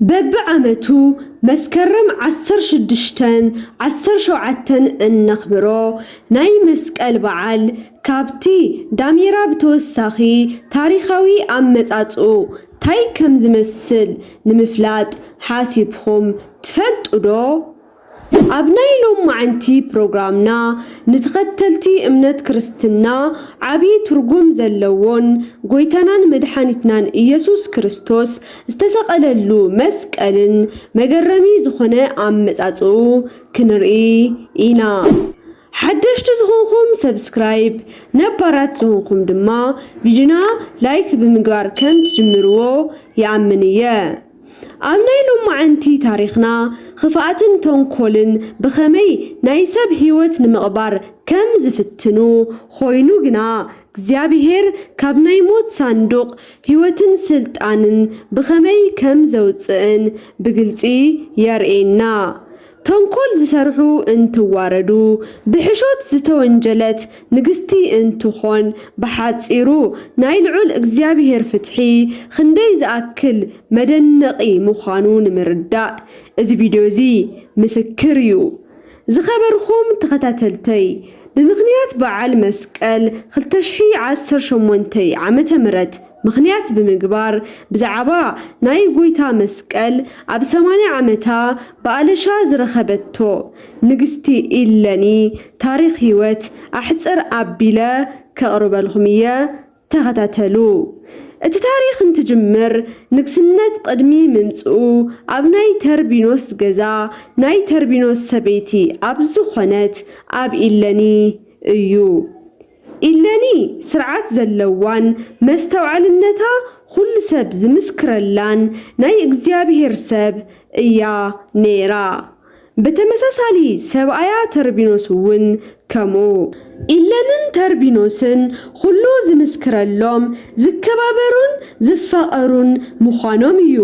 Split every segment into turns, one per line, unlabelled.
በብዓመቱ መስከረም ዓሰርተ ሽዱሽተን ዓሰርተ ሸውዓተን እነኽብሮ ናይ መስቀል በዓል ካብቲ ዳሜራ ብተወሳኺ ታሪኻዊ ኣመፃፅኡ ታይ ከምዝመስል ንምፍላጥ ሓሲብኹም ትፈልጡ ዶ? ኣብ ናይ ሎማዕንቲ ፕሮግራምና ንተኸተልቲ እምነት ክርስትና ዓብይ ትርጉም ዘለዎን ጎይታናን መድሓኒትናን እየሱስ ክርስቶስ ዝተሰቐለሉ መስቀልን መገረሚ ዝኾነ ኣመፃፅእኡ ክንርኢ ኢና ሓደሽቲ ዝኾንኹም ሰብስክራይብ ነባራት ዝኾንኹም ድማ ቪድዮና ላይክ ብምግባር ከም ትጅምርዎ ይኣምን እየ። ኣብ ናይ ሎማዕንቲ ታሪኽና ኽፍኣትን ተንኮልን ብኸመይ ናይ ሰብ ሕይወት ንምቕባር ከም ዝፍትኑ ኾይኑ ግና እግዚኣብሔር ካብ ናይ ሞት ሳንዱቕ ሕይወትን ሥልጣንን ብኸመይ ከም ዘውፅእን ብግልፂ የርእየና። ተንኮል ዝሰርሑ እንትዋረዱ ብሕሾት ዝተወንጀለት ንግስቲ እንትኾን ብሓፂሩ ናይ ልዑል እግዚኣብሔር ፍትሒ ኽንደይ ዝኣክል መደነቒ ምዃኑ ንምርዳእ እዚ ቪድዮ እዚ ምስክር እዩ። ዝኸበርኹም ተኸታተልተይ ብምኽንያት በዓል መስቀል ክልተ ሽሕ ዓሰርተ ሸሞንተ ዓመተ ምህረት ምኽንያት ብምግባር ብዛዕባ ናይ ጎይታ መስቀል ኣብ ሰማንያ ዓመታ ብኣለሻ ዝረኸበቶ ንግስቲ ኢለኒ ታሪኽ ሕይወት ኣሕጽር ኣቢለ ከቕርበልኹም እየ ተኸታተሉ እቲ ታሪኽ እንትጅምር ንግስነት ቕድሚ ምምጽኡ ኣብ ናይ ተርቢኖስ ገዛ ናይ ተርቢኖስ ሰበይቲ ኣብ ዝኾነት ኣብ ኢለኒ እዩ ኢለኒ ስርዓት ዘለዋን መስተውዓልነታ ኹሉ ሰብ ዝምስክረላን ናይ እግዚኣብሄር ሰብ እያ ነይራ። ብተመሳሳሊ ሰብኣያ ተርቢኖስ እውን ከምኡ። ኢለንን ተርቢኖስን ኹሉ ዝምስክረሎም ዝከባበሩን ዝፋቐሩን ምዃኖም እዩ።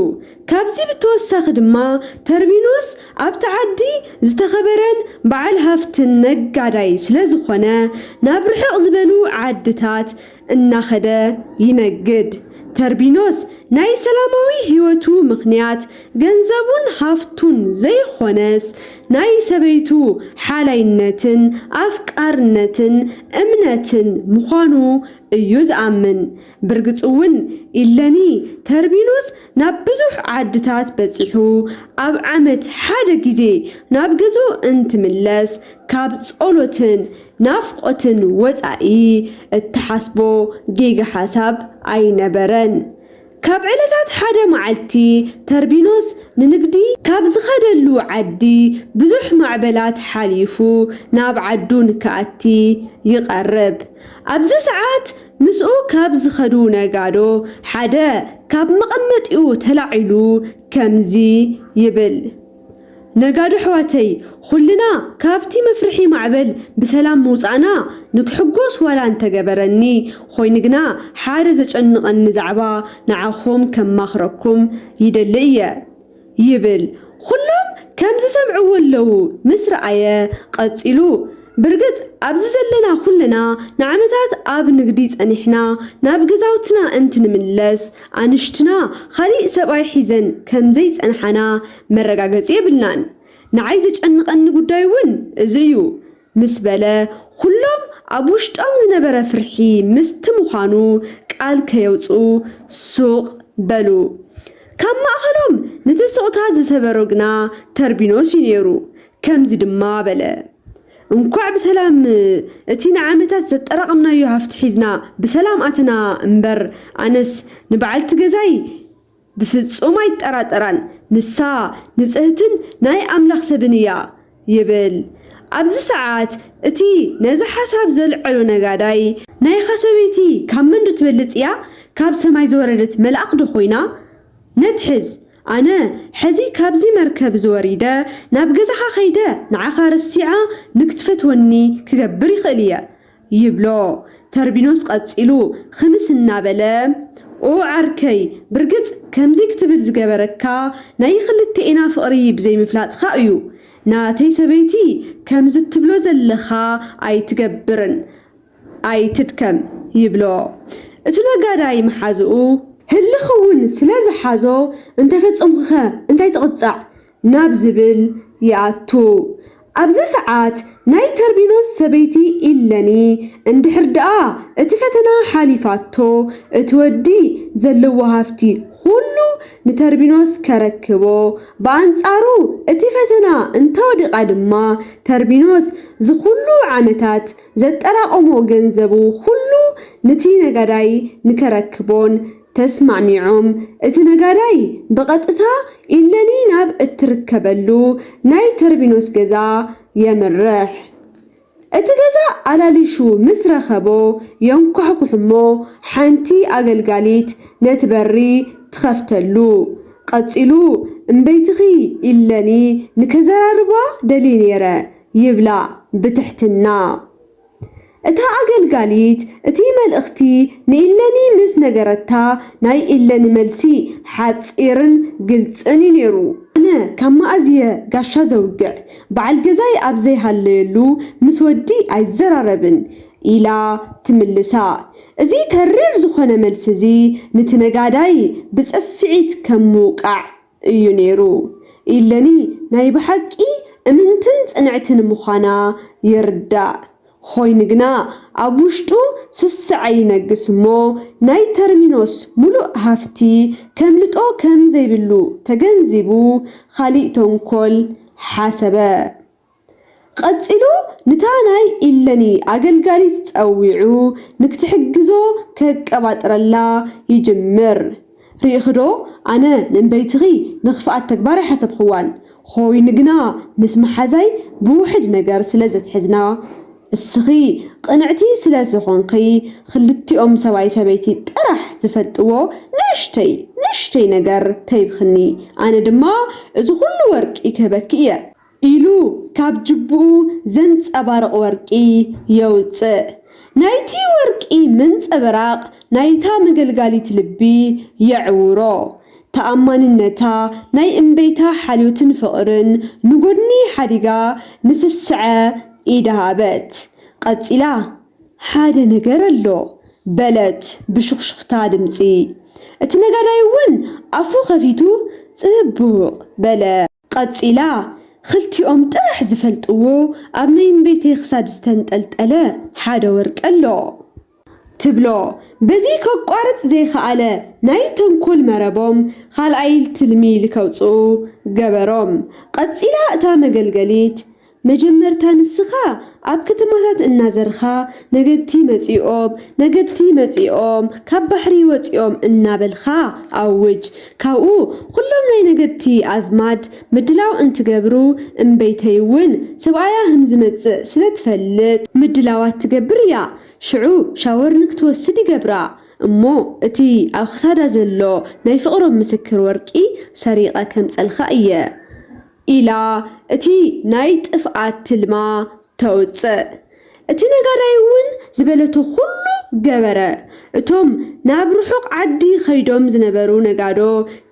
ካብዚ ብተወሳኺ ድማ ተርቢኖስ ኣብቲ ዓዲ ዝተኸበረን በዓል ሃፍትን ነጋዳይ ስለዝኾነ ናብ ርሕቕ ዝበሉ ዓድታት እናኸደ ይነግድ። ተርቢኖስ ናይ ሰላማዊ ህይወቱ ምኽንያት ገንዘቡን ሃፍቱን ዘይኾነስ ናይ ሰበይቱ ሓላይነትን ኣፍቃርነትን እምነትን ምዃኑ እዩ ዝኣምን። ብርግጽ'ውን ኢለኒ ተርቢኖስ ናብ ብዙሕ ዓድታት በጺሑ ኣብ ዓመት ሓደ ግዜ ናብ ገዝኡ እንትምለስ ካብ ጸሎትን ናፍቆትን ወጻኢ እትሓስቦ ጌጋ ሓሳብ ኣይነበረን። ካብ ዕለታት ሓደ መዓልቲ ተርቢኖስ ንንግዲ ካብ ዝኸደሉ ዓዲ ብዙሕ ማዕበላት ሓሊፉ ናብ ዓዱ ንክኣቲ ይቀርብ ኣብዚ ሰዓት ምስኡ ካብ ዝኸዱ ነጋዶ ሓደ ካብ መቐመጢኡ ተላዒሉ ከምዚ ይብል፣ ነጋዶ ኣሕዋተይ ኹልና ካብቲ መፍርሒ ማዕበል ብሰላም ምውፃእና ንክሕጎስ ዋላ እንተገበረኒ ኾይኑ ግና ሓደ ዘጨንቐኒ ዛዕባ ንዓኹም ከማኽረኩም ይደሊ እየ። ይብል ኹሎም ከም ዝሰምዕዎ ኣለዉ ምስ ረኣየ ቐጺሉ ብርግጽ ኣብዚ ዘለና ኹልና ንዓመታት ኣብ ንግዲ ጸኒሕና ናብ ገዛውትና እንትንምለስ ኣንሽትና ኻሊእ ሰብኣይ ሒዘን ከም ዘይጸንሓና መረጋገጺ የብልናን ንዓይ ዘጨንቐኒ ጉዳይ ውን እዚ እዩ ምስ በለ ኹሎም ኣብ ውሽጦም ዝነበረ ፍርሒ ምስቲ ምዃኑ ቃል ከየውፅኡ ሱቕ በሉ። ካብ ማእኸሎም ነቲ ሱቕታ ዝሰበሮ ግና ተርቢኖስ እዩ ነይሩ። ከምዚ ድማ በለ፣ እንኳዕ ብሰላም እቲ ንዓመታት ዘጠራቐምናዮ ሃፍቲ ሒዝና ብሰላም ኣተና እምበር ኣነስ ንበዓልቲ ገዛይ ብፍጹም ኣይጠራጠራን፣ ንሳ ንጽህትን ናይ ኣምላኽ ሰብን እያ ይብል። ኣብዚ ሰዓት እቲ ነዚ ሓሳብ ዘልዐሎ ነጋዳይ፣ ናይኻ ሰበይቲ ካብ መንዶ ትበልጽ እያ? ካብ ሰማይ ዝወረደት መልኣኽዶ ኾይና? ነትሕዝ፣ ኣነ ሕዚ ካብዚ መርከብ እዚ ወሪደ ናብ ገዛኻ ከይደ ንዓኻ ረሲዓ ንክትፈትወኒ ክገብር ይኽእል እየ። ይብሎ ተርቢኖስ ቀጺሉ ኽምስ እናበለ። ኦ ዓርከይ ብርግጽ ከምዚ ክትብል ዝገበረካ ናይ ኽልቴኤና ፍቕሪ ብዘይምፍላጥኻ እዩ ናተይ ሰበይቲ ከምዚ ትብሎ ዘለኻ ኣይትገብርን ኣይትድከም ይብሎ እቱ ነጋዳይ መሓዝኡ ህልኽ እውን ስለ ዝሓዞ እንተፈጸምኩኸ እንታይ ትቕጻዕ ናብ ዝብል ይኣቱ። ኣብዚ ሰዓት ናይ ተርቢኖስ ሰበይቲ ኢለኒ እንድሕር ደኣ እቲ ፈተና ሓሊፋቶ እቲ ወዲ ዘለዎ ሃፍቲ ኹሉ ንተርቢኖስ ከረክቦ ብኣንጻሩ እቲ ፈተና እንተወዲቓ ድማ ተርቢኖስ ዝኹሉ ዓመታት ዘጠራቐሞ ገንዘቡ ኹሉ ንቲ ነጋዳይ ንከረክቦን ተስማዕሚዖም እቲ ነጋዳይ ብቐጥታ ኢለኒ ናብ እትርከበሉ ናይ ተርቢኖስ ገዛ የምርሕ። እቲ ገዛ ኣላሊሹ ምስ ረኸቦ የንኳሕኩሕ'ሞ ሓንቲ ኣገልጋሊት ነቲ በሪ ትኸፍተሉ። ቐጺሉ እምበይትኺ ኢለኒ ንከዘራርባ ደልየ ነይረ ይብላ ብትሕትና። እታ ኣገልጋሊት እቲ መልእኽቲ ንኢለኒ ምስ ነገረታ፣ ናይ ኢለኒ መልሲ ሓጺርን ግልጽን እዩ ነይሩ። ኣነ ካብ መኣዝ'የ ጋሻ ዘውግዕ፣ በዓል ገዛይ ኣብ ዘይሃለየሉ ምስ ወዲ ኣይዘራረብን፣ ኢላ ትምልሳ። እዚ ተሪር ዝዀነ መልሲ'ዚ ንቲ ነጋዳይ ብጽፍዒት ከም ምውቃዕ እዩ ነይሩ ኢለኒ ናይ ብሓቂ እምንትን ጽንዕትን ምዃና ይርዳእ ኾይኑ ግና ኣብ ውሽጡ ስስዐ ይነግስ እሞ ናይ ተርሚኖስ ምሉእ ሃፍቲ ከምልጦ ከምዘይብሉ ተገንዚቡ ኻሊእ ተንኮል ሓሰበ። ቐጺሉ ንታ ናይ ኢለኒ ኣገልጋሊት ጸዊዑ ንክትሕግዞ ከቀባጥረላ ይጅምር ሪኢኺ ዶ ኣነ ነንበይትኺ ንኽፍኣት ተግባር ኣይሓሰብኽዋን ኾይኑ ግና ምስ መሓዛይ ብውሕድ ነገር ስለ ዘትሕዝና እስኺ ቕንዕቲ ስለ ዝኾንኺ ኽልቲኦም ሰብኣይ ሰበይቲ ጥራሕ ዝፈልጥዎ ንእሽተይ ንእሽተይ ነገር ተሂብኽኒ ኣነ ድማ እዚ ኹሉ ወርቂ ክህበኪ እየ ኢሉ ካብ ጅቡኡ ዘንጸባርቕ ወርቂ የውጽእ። ናይቲ ወርቂ ምንጽብራቕ ናይታ መገልጋሊት ልቢ የዕውሮ። ተኣማንነታ፣ ናይ እምበይታ ሓልዮትን ፍቕርን ንጎድኒ ሓዲጋ ንስስዐ ኢዳ ሃበት። ቐጺላ፣ ሓደ ነገር ኣሎ፣ በለት ብሹኽሹኽታ ድምጺ። እቲ ነጋዳይ'ውን ኣፉ ከፊቱ ጽቡቕ በለ። ቐጺላ፣ ኽልቲኦም ጥራሕ ዝፈልጥዎ ኣብ ናይ እምበይተይ ኽሳድ ዝተንጠልጠለ ሓደ ወርቂ ኣሎ። ትብሎ። በዚ ኸቋርጽ ዘይኸኣለ ናይ ተንኮል መረቦም ኻልኣይል ትልሚ ልከውጽኡ ገበሮም። ቐጺላ እታ መገልገሊት፣ መጀመርታ ንስኻ ኣብ ከተማታት እናዘርኻ ነገድቲ መጺኦም፣ ነገድቲ መጺኦም፣ ካብ ባሕሪ ወጺኦም እናበልካ ኣውጅ። ካብኡ ኹሎም ናይ ነገድቲ ኣዝማድ ምድላው እንትገብሩ፣ እምበይተይ'ውን ሰብኣያ ኽም ዝመጽእ ስለ ትፈልጥ፣ ምድላዋት ትገብር እያ፣ ሽዑ ሻወር ንክትወስድ ይገብራ፣ እሞ እቲ ኣብ ኽሳዳ ዘሎ ናይ ፍቕሮም ምስክር ወርቂ ሰሪቐ ከምጸልካ እየ። ኢላ እቲ ናይ ጥፍኣት ትልማ ተውጽእ። እቲ ነጋዳይ'ውን ዝበለቶ ኹሉ ገበረ። እቶም ናብ ርሑቕ ዓዲ ኸይዶም ዝነበሩ ነጋዶ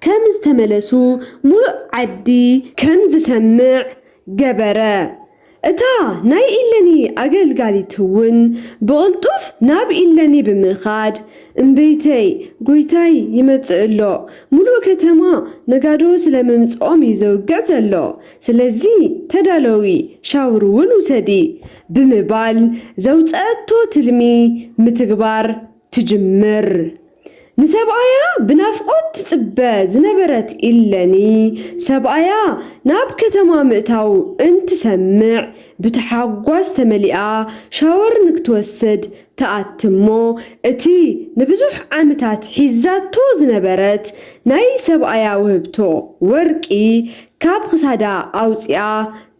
ከም ዝተመለሱ ምሉእ ዓዲ። ከም ዝሰምዕ ገበረ። እታ ናይ ኢለኒ ኣገልጋሊትውን ብቕልጡፍ ናብ ኢለኒ ብምኻድ፣ እምበይተይ፣ ጐይታይ ይመጽእ ኣሎ፣ ምሉእ ከተማ ነጋዶ ስለ ምምጽኦም እዩ ዘውግዕ ዘሎ፣ ስለዚ ተዳለዊ፣ ሻውርውን ውሰዲ፣ ብምባል ዘውጸአቶ ትልሚ ምትግባር ትጅምር ንሰብኣያ ብናፍቆት ትጽበ ዝነበረት ኢለኒ ሰብኣያ ናብ ከተማ ምእታው እንትሰምዕ ብታሓጓስ ተመሊኣ ሻወር ንክትወስድ ትኣቲ እሞ እቲ ንብዙሕ ዓምታት ሒዛቶ ዝነበረት ናይ ሰብኣያ ውህብቶ ወርቂ ካብ ክሳዳ ኣውጺኣ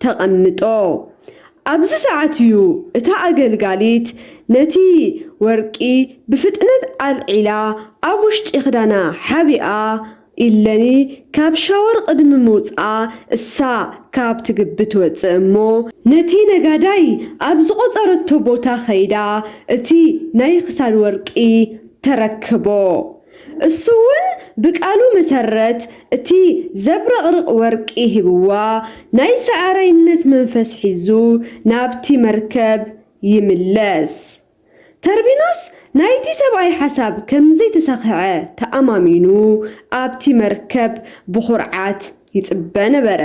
ተቀምጦ ኣብዚ ሰዓት እዩ እታ ኣገልጋሊት ነቲ ወርቂ ብፍጥነት ኣልዒላ ኣብ ውሽጢ ክዳና ሓቢኣ ኢለኒ ካብ ሻወር ቅድሚ ምውጽኣ እሳ ካብ ትግቢ ትወጽእ እሞ ነቲ ነጋዳይ ኣብ ዝቆጸረቶ ቦታ ከይዳ እቲ ናይ ክሳድ ወርቂ ተረክቦ። እሱውን ብቃሉ መሰረት እቲ ዘብረቕርቕ ወርቂ ሂብዋ ናይ ሰዓራይነት መንፈስ ሒዙ ናብቲ መርከብ ይምለስ። ተርቢኖስ ናይቲ ሰብኣይ ሓሳብ ከምዘይተሳኽዐ ተኣማሚኑ ኣብቲ መርከብ ብኹርዓት ይጽበ ነበረ።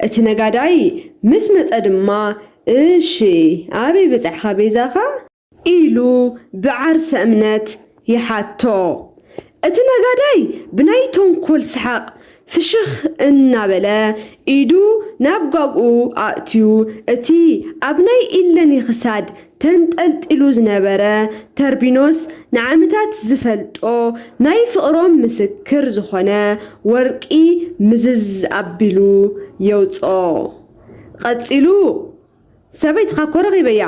እቲ ነጋዳይ ምስ መጸ ድማ እሺ ኣበይ በጻሕኻ ቤዛኻ? ኢሉ ብዓርሰ እምነት ይሓቶ። እቲ ነጋዳይ ብናይ ተንኮል ሰሓቕ ፍሽኽ እናበለ ኢዱ ናብ ጋግኡ ኣእትዩ እቲ ኣብ ናይ ኢለኒ ክሳድ ተንጠልጢሉ ዝነበረ ተርቢኖስ ንዓመታት ዝፈልጦ ናይ ፍቕሮም ምስክር ዝኾነ ወርቂ ምዝዝ ኣቢሉ የውጽኦ። ቐጺሉ። ሰበይትኻ እኮ ረኺበያ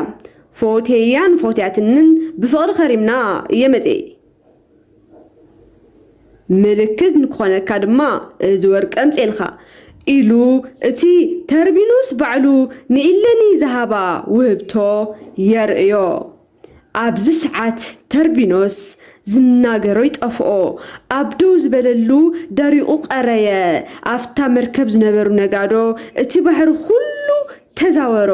ፎትየያን ፎትያትንን ብፍቕሪ ከሪምና እየ መፂኤ ምልክት ንክኾነካ ድማ እዚ ወርቂ ኣምፅኤልኻ ኢሉ እቲ ተርቢኑስ ባዕሉ ንኢለኒ ዝሃባ ውህብቶ የርእዮ። ኣብዚ ሰዓት ተርቢኖስ ዝናገሮ ይጠፍኦ ኣብ ደው ዝበለሉ ደሪቁ ቀረየ ኣብታ መርከብ ዝነበሩ ነጋዶ እቲ ባሕሪ ኩሉ ተዛወሮ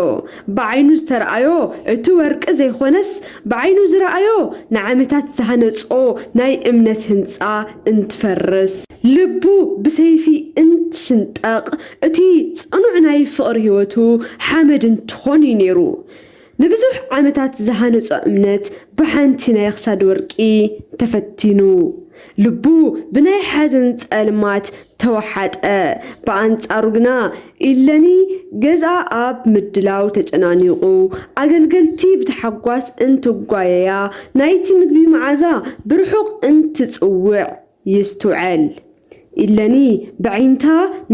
ብዓይኑ ዝተርኣዮ እቲ ወርቂ ዘይኮነስ ብዓይኑ ዝረኣዮ ንዓመታት ዝሃነጾ ናይ እምነት ህንጻ እንትፈርስ ልቡ ብሰይፊ እንትስንጠቅ እቲ ጽኑዕ ናይ ፍቅሪ ሂወቱ ሓመድ እንትኮን እዩ ኔሩ ንብዙሕ ዓመታት ዝሃነጾ እምነት ብሓንቲ ናይ ክሳድ ወርቂ ተፈቲኑ። ልቡ ብናይ ሓዘን ጸልማት ተወሓጠ። ብኣንጻሩ ግና ኢለኒ ገዝኣ ኣብ ምድላው ተጨናኒቑ፣ ኣገልገልቲ ብታሕጓስ እንትጓየያ፣ ናይቲ ምግቢ መዓዛ ብርሑቕ እንትጽውዕ፣ ይስትውዐል ኢለኒ በዒንታ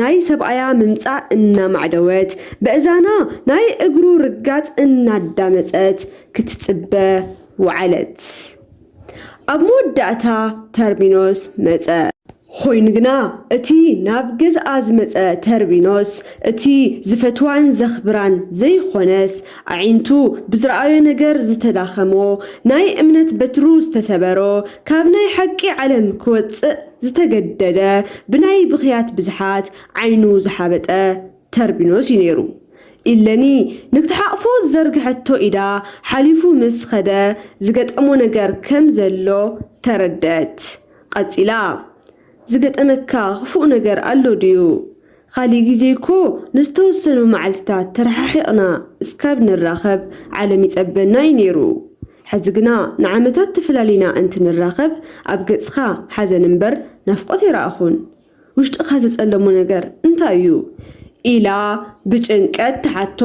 ናይ ሰብኣያ ምምጻእ እናማዕደወት በእዛና ናይ እግሩ ርጋጽ እናዳመጸት ክትጽበ ወዐለት ኣብ መወዳእታ ተርቢኖስ መጸ። ኾይኑ ግና እቲ ናብ ገዝኣ ዝመጸ ተርቢኖስ እቲ ዝፈትዋን ዘኽብራን ዘይኾነስ ኣዒንቱ ብዝረኣዮ ነገር ዝተዳኸሞ፣ ናይ እምነት በትሩ ዝተሰበሮ፣ ካብ ናይ ሓቂ ዓለም ክወጽእ ዝተገደደ፣ ብናይ ብኽያት ብዝሓት ዓይኑ ዝሓበጠ ተርቢኖስ እዩ ነይሩ። ኢለኒ ንክትሓቕፎ ዝዘርግሐቶ ኢዳ ሓሊፉ ምስ ኸደ ዝገጠሞ ነገር ከም ዘሎ ተረድኣት። ቐጺላ። ዝገጠመካ ኽፉእ ነገር ኣሎ ድዩ? ኻሊእ ግዜ እኮ ንዝተወሰኑ መዓልቲታት ተረሓሒቕና እስካብ ንራኸብ ዓለም ይፀበና እዩ ነይሩ። ሕዚ ግና ንዓመታት ተፈላሊና እንትንራኸብ ኣብ ገፅኻ ሓዘን እምበር ናፍቆት ኣይረኣኹን። ውሽጥኻ ዘፀለሞ ነገር እንታይ እዩ? ኢላ ብጭንቀት ትሓቶ።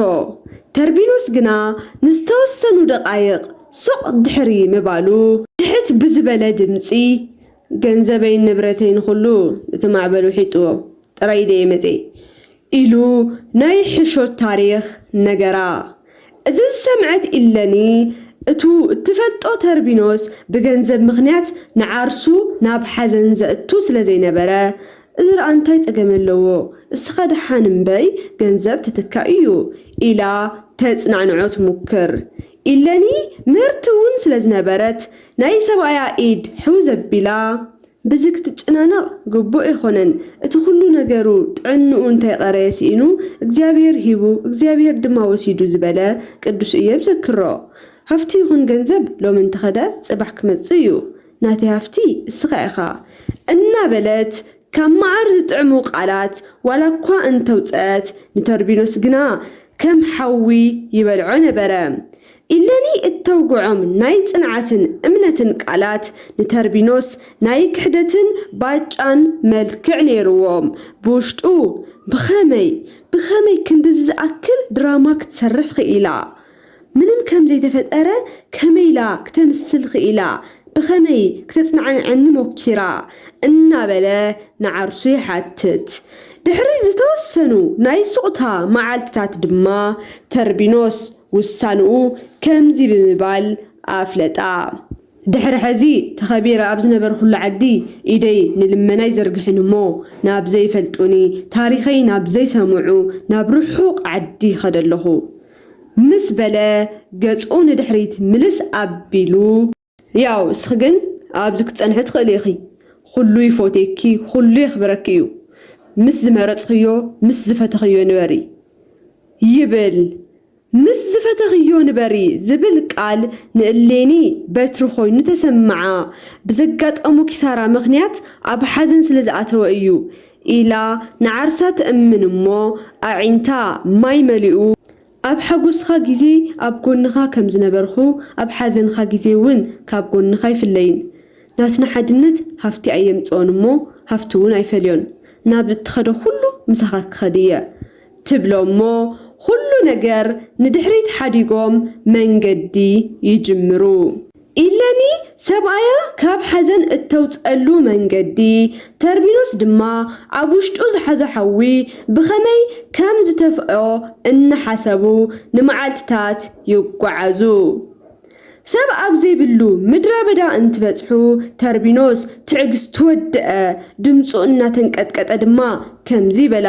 ተርቢኖስ ግና ንዝተወሰኑ ደቓይቕ ሱቕ ድሕሪ ምባሉ ትሕት ብዝበለ ድምፂ ገንዘበይን ንብረተይን ኹሉ እቲ ማዕበል ውሒጥዎ ጥራይ ኢደይ መጼ። ኢሉ ናይ ሕሾት ታሪኽ ነገራ። እዚ ዝሰምዐት ኢለኒ እቱ እትፈልጦ ተርቢኖስ ብገንዘብ ምኽንያት ንዓርሱ ናብ ሓዘን ዘእቱ ስለ ዘይነበረ እዚ ደኣ እንታይ ጸገም ኣለዎ እስኻ ደሓን እምበይ ገንዘብ ትትካእ እዩ ኢላ ተጽናዕንዖ ትሙክር ኢለኒ ምህርቲውን ስለ ዝነበረት ናይ ሰብኣያ ኢድ ሕው ዘቢላ ብዚ ክትጨናነቕ ግቡእ ኣይኮነን እቲ ኩሉ ነገሩ ጥዕንኡ እንተይቐረየ ስኢኑ እግዚኣብሄር ሂቡ እግዚኣብሄር ድማ ወሲዱ ዝበለ ቅዱስ እዮብ ዘክሮ ሃፍቲ ይኹን ገንዘብ ሎሚ እንተኸደ ጽባሕ ክመጽእ እዩ ናተይ ሃፍቲ እስኻ ኢኻ እናበለት ካብ መዓር ዝጥዕሙ ቃላት ዋላኳ እንተውጸት ንቶርቢኖስ ግና ከም ሓዊ ይበልዖ ነበረ። ኢለኒ እተውግዖም ናይ ጽንዓትን እምነትን ቃላት ንተርቢኖስ ናይ ክሕደትን ባጫን መልክዕ ነይርዎም። ብውሽጡ ብኸመይ ብኸመይ ክንድዚ ዝኣክል ድራማ ክትሰርሕ ኽኢላ? ምንም ከም ዘይተፈጠረ ከመይ ኢላ ክተምስል ኽኢላ? ብኸመይ ክተጽናዕንዐኒ ሞኪራ? እናበለ ንዓርሱ ይሓትት። ድሕሪ ዝተወሰኑ ናይ ሱቕታ መዓልትታት ድማ ተርቢኖስ ውሳንኡ ከምዚ ብምባል ኣፍለጣ። ድሕሪ ሕዚ ተኸቢረ ኣብ ዝነበርኩሉ ዓዲ ኢደይ ንልመና ኣይዘርግሕን እሞ፣ ናብ ዘይፈልጡኒ፣ ታሪኸይ ናብ ዘይሰምዑ ናብ ርሑቕ ዓዲ ይኸደ'ለኹ። ምስ በለ ገጹ ንድሕሪት ምልስ ኣቢሉ። ያው እስኺ ግን ኣብዚ ክትጸንሒ ትኽእሊ ኢኺ ኹሉ ይፎትየኪ ኹሉ የኽብረኪ እዩ ምስ ዝመረጽኽዮ ምስ ዝፈተኽዮ ንበሪ ይብል። ምስ ዝፈተኽዮ ንበሪ ዝብል ቃል ንእሌኒ በትሪ ኾይኑ ተሰምዓ ብዘጋጠሞ ኪሳራ ምኽንያት ኣብ ሓዘን ስለ ዝኣተወ እዩ ኢላ ንዓርሳ ትእምን እሞ ኣዒንታ ማይ መሊኡ፣ ኣብ ሓጎስኻ ግዜ ኣብ ጎንኻ ከም ዝነበርኩ ኣብ ሓዘንኻ ግዜ ውን ካብ ጎንኻ ኣይፍለይን። ናትና ሓድነት ሃፍቲ ኣየምጽኦን እሞ ሃፍቲ ውን ኣይፈልዮን። ናብ እትኸዶ ኩሉ ምሳኻ ክኸድ እየ። ትብሎ እሞ ኹሉ ነገር ንድሕሪት ሓዲጎም መንገዲ ይጅምሩ። ኢለኒ ሰብኣያ ካብ ሓዘን እተውጽኣሉ መንገዲ፣ ተርቢኖስ ድማ ኣብ ውሽጡ ዝሓዞ ሓዊ ብኸመይ ከም ዝተፍኦ እናሓሰቡ ንመዓልትታት ይጓዓዙ። ሰብ ኣብ ዘይብሉ ምድረበዳ እንትበጽሑ ተርቢኖስ ትዕግስቱ ወደኣ፣ ድምጹ እናተንቀጥቀጠ ድማ ከምዚ በላ።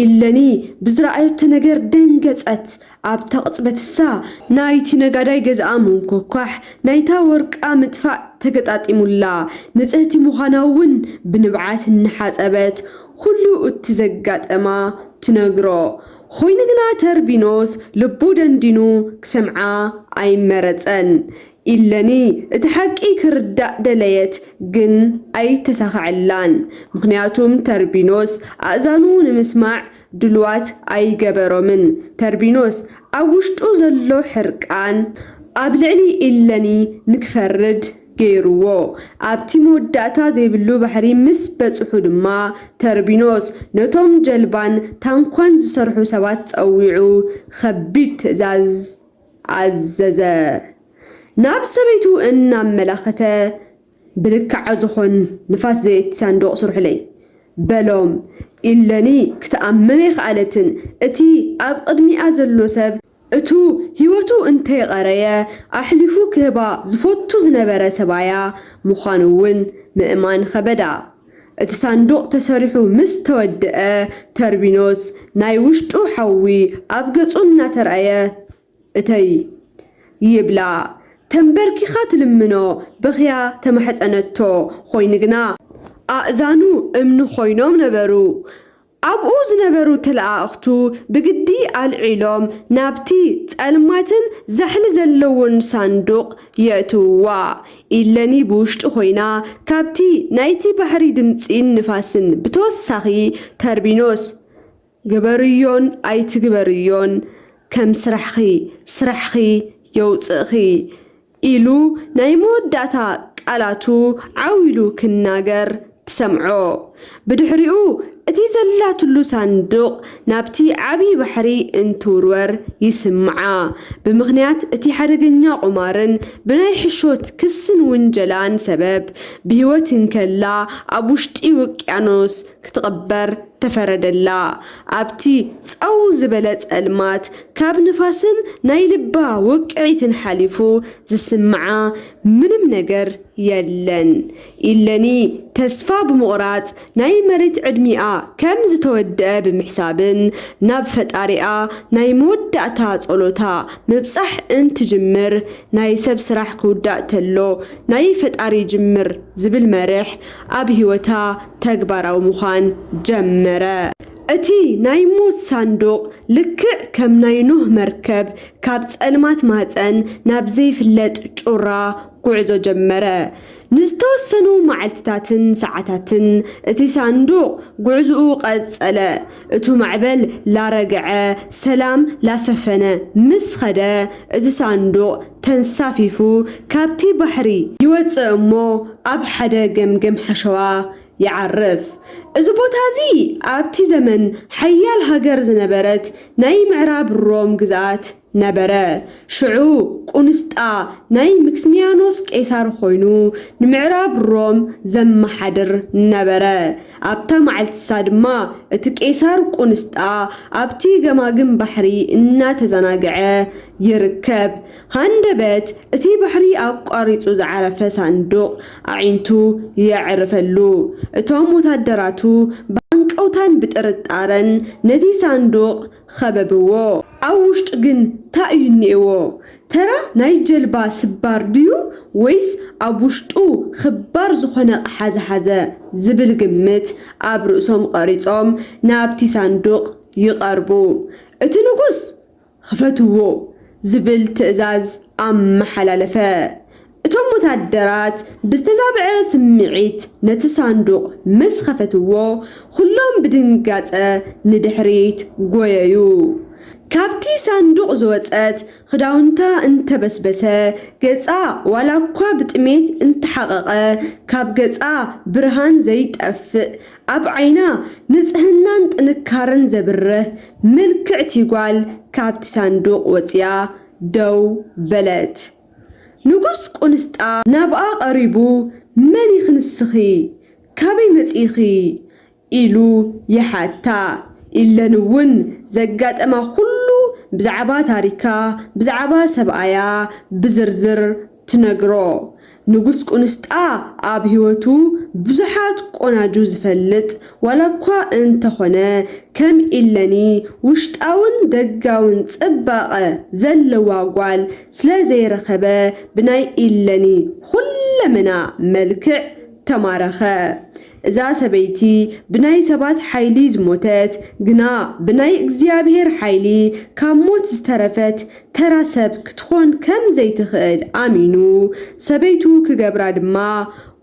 ኢለኒ ብዝረኣዮቶ ነገር ደንገጸት፣ ኣብታ ቅጽበት እሳ ናይቲ ነጋዳይ ገዝኣ ምንኮኳሕ ናይታ ወርቃ ምጥፋእ ተገጣጢሙላ፣ ንጽህቲ ምዃና'ውን ብንብዓት እናሓጸበት ኩሉ እቲ ዘጋጠማ ትነግሮ። ኾይኑ ግና ተርቢኖስ ልቡ ደንዲኑ ክሰምዓ ኣይመረጸን። ኢለኒ እቲ ሓቂ ክርዳእ ደለየት ግን ኣይ ተሳከዐላን ምክንያቱም ተርቢኖስ ኣእዛኑ ንምስማዕ ድሉዋት ኣይ ገበሮምን ተርቢኖስ ኣብ ውሽጡ ዘሎ ሕርቃን ኣብ ልዕሊ ኢለኒ ንክፈርድ ገይርዎ ኣብቲ መወዳእታ ዘይብሉ ባሕሪ ምስ በጽሑ ድማ ተርቢኖስ ነቶም ጀልባን ታንኳን ዝሰርሑ ሰባት ጸዊዑ ከቢድ ትእዛዝ ኣዘዘ። ናብ ሰበይቱ እናመላኸተ ብልክዓ ዝኾን ንፋስ ዘየቲ ሳንዱቕ ስርሑለይ። በሎም። ኢለኒ ክትኣምን ኣይኸኣለትን። እቲ ኣብ ቕድሚኣ ዘሎ ሰብ እቱ ህይወቱ እንተይቐረየ ኣሕሊፉ ክህባ ዝፈቱ ዝነበረ ሰብኣያ ምዃኑ እውን ምእማን ኸበዳ። እቲ ሳንዱቕ ተሰሪሑ ምስ ተወደኣ፣ ተርቢኖስ ናይ ውሽጡ ሓዊ ኣብ ገጹ እናተራእየ፣ እተይ! ይብላ ተምበርኪኻ ትልምኖ በኽያ ተማሕጸነቶ፣ ኾይኑ ግና። ኣእዛኑ እምኒ ኾይኖም ነበሩ። ኣብኡ ዝነበሩ ተለኣኣኽቱ ብግዲ ኣልዒሎም ናብቲ ጸልማትን ዛሕሊ ዘለዎን ሳንዱቕ የእትውዋ። ኢለኒ ብውሽጢ ኮይና ካብቲ ናይቲ ባሕሪ ድምጺን ንፋስን ብተወሳኺ ተርቢኖስ ግበርዮን ኣይትግበርዮን ከም ስራሕኺ ስራሕኺ የውጽእኺ ኢሉ ናይ መወዳእታ ቃላቱ ዓው ኢሉ ክናገር ትሰምዖ። ብድሕሪኡ እቲ ዘላትሉ ሳንዱቕ ናብቲ ዓቢ ባሕሪ እንትውርወር ይስምዓ። ብምኽንያት እቲ ሓደገኛ ቁማርን ብናይ ሕሾት ክስን ውንጀላን ሰበብ ብህይወት እንከላ ኣብ ውሽጢ ውቅያኖስ ክትቕበር ተፈረደላ ኣብቲ ጸው ዝበለ ጸልማት ካብ ንፋስን ናይ ልባ ውቅዒትን ሓሊፉ ዝስምዓ ምንም ነገር የለን ኢለኒ ተስፋ ብምቑራጽ ናይ መሬት ዕድሚኣ ከም ዝተወደኣ ብምሕሳብን ናብ ፈጣሪኣ ናይ መወዳእታ ጸሎታ ምብጻሕ እንትጅምር ናይ ሰብ ስራሕ ክውዳእ ተሎ ናይ ፈጣሪ ይጅምር ዝብል መርሕ ኣብ ህይወታ ተግባራዊ ምዃን ጀመረ። እቲ ናይ ሞት ሳንዱቕ ልክዕ ከም ናይ ኖህ መርከብ ካብ ጸልማት ማህጸን ናብ ዘይፍለጥ ጩራ ጕዕዞ ጀመረ። ንዝተወሰኑ መዓልትታትን ሰዓታትን እቲ ሳንዱቕ ጕዕዞኡ ቀጸለ። እቱ ማዕበል ላረግዐ፣ ሰላም ላሰፈነ ምስ ኸደ፣ እቲ ሳንዱቕ ተንሳፊፉ ካብቲ ባሕሪ ይወጽእ እሞ ኣብ ሓደ ገምገም ሓሸዋ ይዓርፍ። እዚ ቦታ እዚ ኣብቲ ዘመን ሓያል ሃገር ዝነበረት ናይ ምዕራብ ሮም ግዝኣት ነበረ። ሽዑ ቁንስጣ ናይ ምክስምያኖስ ቄሳር ኮይኑ ንምዕራብ ሮም ዘመሓድር ነበረ። ኣብታ መዓልቲሳ ድማ እቲ ቄሳር ቁንስጣ ኣብቲ ገማግም ባሕሪ እናተዘናግዐ፣ ይርከብ። ሃንደበት እቲ ባሕሪ ኣቋሪጹ ዝዓረፈ ሳንዱቕ ኣዒንቱ የዕርፈሉ። እቶም ወታደራቱ ብሃንቀውታን ብጥርጣረን ነቲ ሳንዱቕ ኸበብዎ። ኣብ ውሽጡ ግን ታይ እዩ እኒኤዎ? ተራ ናይ ጀልባ ስባር ድዩ ወይስ ኣብ ውሽጡ ኽባር ዝኾነ ኣቕሓ ዝሓዘ ዝብል ግምት ኣብ ርእሶም ቐሪጾም ናብቲ ሳንዱቕ ይቐርቡ። እቲ ንጉስ! ኽፈትዎ ዝብል ትእዛዝ ኣመሓላለፈ። እቶም ወተሃደራት ብዝተዛብዐ ስምዒት ነቲ ሳንዱቕ ምስ ኸፈትዎ፣ ዅሎም ብድንጋጸ ንድሕሪት ጐየዩ። ካብቲ ሳንዱቕ ዝወጸት ኽዳውንታ እንተ በስበሰ፣ ገጻ ዋላ እኳ ብጥሜት እንተ ሓቐቐ፣ ካብ ገጻ ብርሃን ዘይጠፍእ ኣብ ዓይና ንጽህናን ጥንካረን ዘብርህ ምልክዕቲ ጓል ካብቲ ሳንዱቕ ወጺኣ ደው በለት። ንጉስ ቍንስጣ ናብኣ ቐሪቡ፣ መን ኢኺ ንስኺ? ካበይ መጺእኺ? ኢሉ ይሓታ። ኢለን እውን ዘጋጠማ ዅሉ ብዛዕባ ታሪካ፣ ብዛዕባ ሰብኣያ ብዝርዝር ትነግሮ ንጉስ ቁንስጣ ኣብ ሂወቱ ብዙሓት ቆናጁ ዝፈልጥ ዋላኳ እንተኾነ ከም ኢለኒ ውሽጣውን ደጋውን ጽባቀ ዘለዋ ጓል ስለዘይረኸበ ብናይ ኢለኒ ኹለመና መልክዕ ተማረኸ እዛ ሰበይቲ ብናይ ሰባት ሓይሊ ዝሞተት፣ ግና ብናይ እግዚኣብሄር ሓይሊ ካብ ሞት ዝተረፈት ተራ ሰብ ክትኾን ከም ዘይትኽእል ኣሚኑ፣ ሰበይቱ ክገብራ ድማ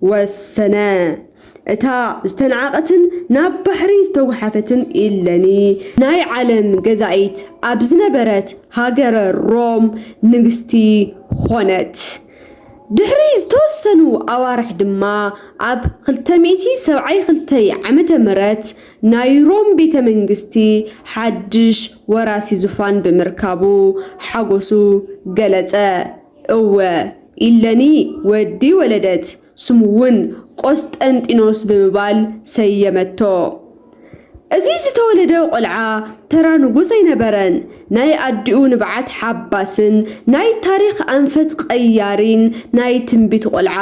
ወሰነ። እታ ዝተናዕቐትን ናብ ባሕሪ ዝተጉሓፈትን ኢለኒ፣ ናይ ዓለም ገዛኢት ኣብ ዝነበረት ሃገረ ሮም ንግስቲ ኾነት። ድሕሪ ዝተወሰኑ ኣዋርሕ ድማ ኣብ ክልተ ሚእቲ ሰብዓይ ክልተይ ዓመተ ምህረት ናይ ሮም ቤተ መንግስቲ ሓድሽ ወራሲ ዙፋን ብምርካቡ ሓጎሱ ገለጸ። እወ ኢለኒ ወዲ ወለደት ስሙ'ውን ቆስጠንጢኖስ ብምባል ሰየመቶ። እዚ ዝተወለደ ቆልዓ ተራ ንጉስ ኣይነበረን፣ ናይ ኣዲኡ ንብዓት ሓባስን ናይ ታሪኽ ኣንፈት ቐያሪን ናይ ትንቢት ቆልዓ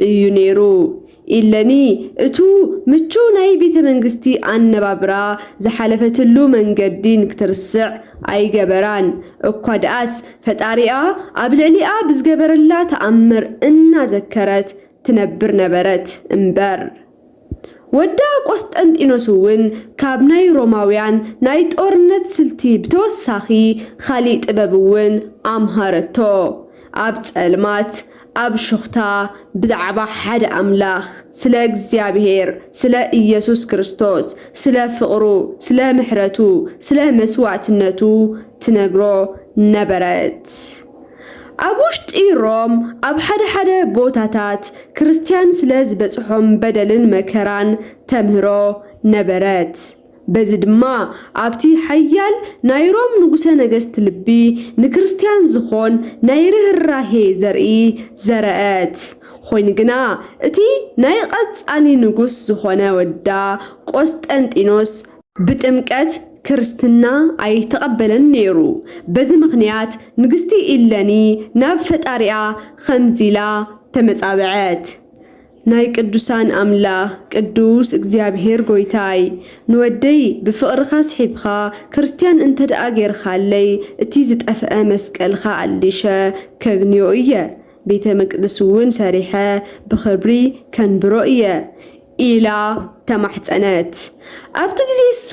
እዩ ነይሩ። ኢለኒ እቱ ምቹው ናይ ቤተ መንግስቲ ኣነባብራ ዝሓለፈትሉ መንገዲን ክትርስዕ ኣይገበራን፣ እኳ ድኣስ ፈጣሪኣ ኣብ ልዕሊኣ ብዝገበረላ ተኣምር እናዘከረት ትነብር ነበረት እምበር። ወዳ ቆስጠንጢኖስ'ውን ካብ ናይ ሮማውያን ናይ ጦርነት ስልቲ ብተወሳኺ ኻሊእ ጥበብ'ውን ኣምሃረቶ፣ ኣብ ጸልማት፣ ኣብ ሹኽታ ብዛዕባ ሓደ ኣምላኽ፣ ስለ እግዚኣብሄር፣ ስለ ኢየሱስ ክርስቶስ፣ ስለ ፍቕሩ፣ ስለ ምሕረቱ፣ ስለ መስዋእትነቱ ትነግሮ ነበረት። ኣብ ውሽጢ ሮም ኣብ ሓደ ሓደ ቦታታት ክርስትያን ስለ ዝበጽሖም በደልን መከራን ተምህሮ ነበረት። በዚ ድማ ኣብቲ ሓያል ናይ ሮም ንጉሠ ነገሥት ልቢ ንክርስትያን ዝኾን ናይ ርህራሄ ዘርኢ ዘረአት። ኾይኑ ግና እቲ ናይ ቐጻሊ ንጉሥ ዝኾነ ወዳ ቆስጠንጢኖስ፣ ብጥምቀት ክርስትና ኣይተቐበለን ነይሩ በዚ ምኽንያት ንግሥቲ ኢለኒ ናብ ፈጣሪኣ ኸምዚ ኢላ ተመጻበዐት ናይ ቅዱሳን ኣምላክ ቅዱስ እግዚኣብሔር ጎይታይ ንወደይ ብፍቅርካ ስሒብካ ክርስትያን እንተደኣ ገይርካለይ እቲ ዝጠፈኣ መስቀልካ ኣሊሸ ከግንዮ እየ ቤተ መቅድስ እውን ሰሪሐ ብክብሪ ከንብሮ እየ ኢላ ተማሕጸነት ኣብቲ ግዜ እሱ